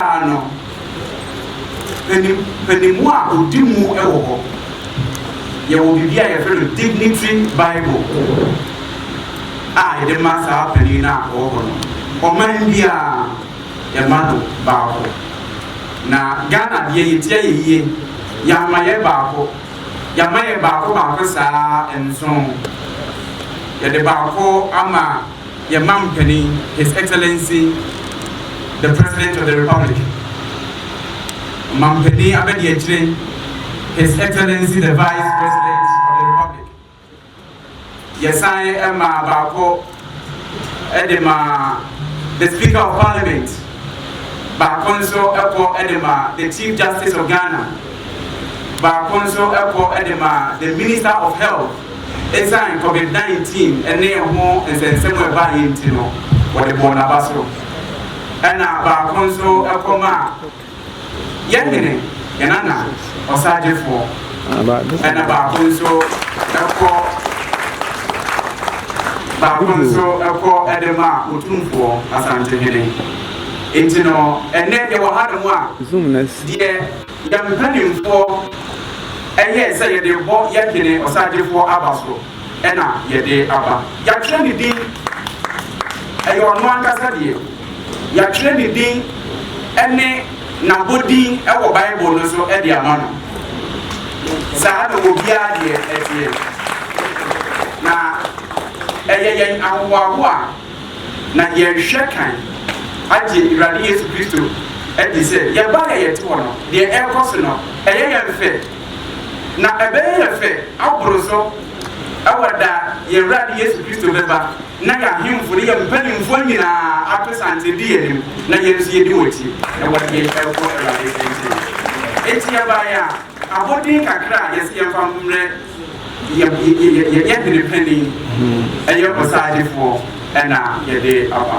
Ano, mpaninmu a ɔdi mu wɔ hɔ. Yɛwɔ biribi a yɛfrɛ no Dignity Bible a yɛde ma saa panin no a ɔwɔ hɔ no. Ɔman biara yɛma no baako. Na Ghana deɛ yɛti ayɛ yie, yɛama yɛ baako. Yɛama yɛ baako baako saa nson. Yɛde baako ama Yɛn Mampanin, His Excellency the President of the Republic, Ɔmampanin Abadiakyire, His Excellency the Vice President of the Republic. Yɛsan ma baako de ma the Speaker of Parliament, baako nso kɔ de ma the Chief Justice of Ghana. baako nso kɔ de ma the Minister of Health esiane Covid 19 ne ɛho nsɛnsɛm a ɛbaeɛ nti no wɔde bɔɔ n'aba so ɛna baako nso kɔ ma yɛn hene yɛn nana ɔsagyefoɔ ɛna baako nso kɔ baako nso kɔ de ma otumfoɔ asantehene nti no ɛnɛ yɛwɔ ha nom a deɛ Yɛn mpanimfoɔ yɛɛ sɛ yɛde rebɔ yɛn hene ɔsagyefoɔ aba so na yɛde aba. Yɛatwerɛ ne din, ɛyɛ ɔno ankasa deɛ. Yɛatwerɛ ne din ne n'abɔdin wɔ Bible no so de ama no. Saa na obiara deɛ teɛ. Na ɛyɛ yɛn ahohoahoa. na yɛnhwɛ kan agye Awurade Yesu Kristo adi sɛ yɛn ba a yɛte hɔ no, deɛ ɛrekɔ so no, ɛyɛ yɛn fɛ, na ɛbɛyɛ yɛn fɛ aboro so wɔ da yɛn Awurade Yesu Kristo bɛba na yɛn ahemfo ne yɛn mpanimfoɔ nyinaa ato santen di yɛn anim na yɛn nso yɛdi wɔn akyi wɔ deɛ ɛrekɔ Awurade nkyɛn. Enti yɛbaeɛ a, Abɔden kakra a yɛse yɛmfa mmrɛ yɛ yɛ hene panin, ɛyɛ ɔsaadefoɔ ɛna yɛde aba.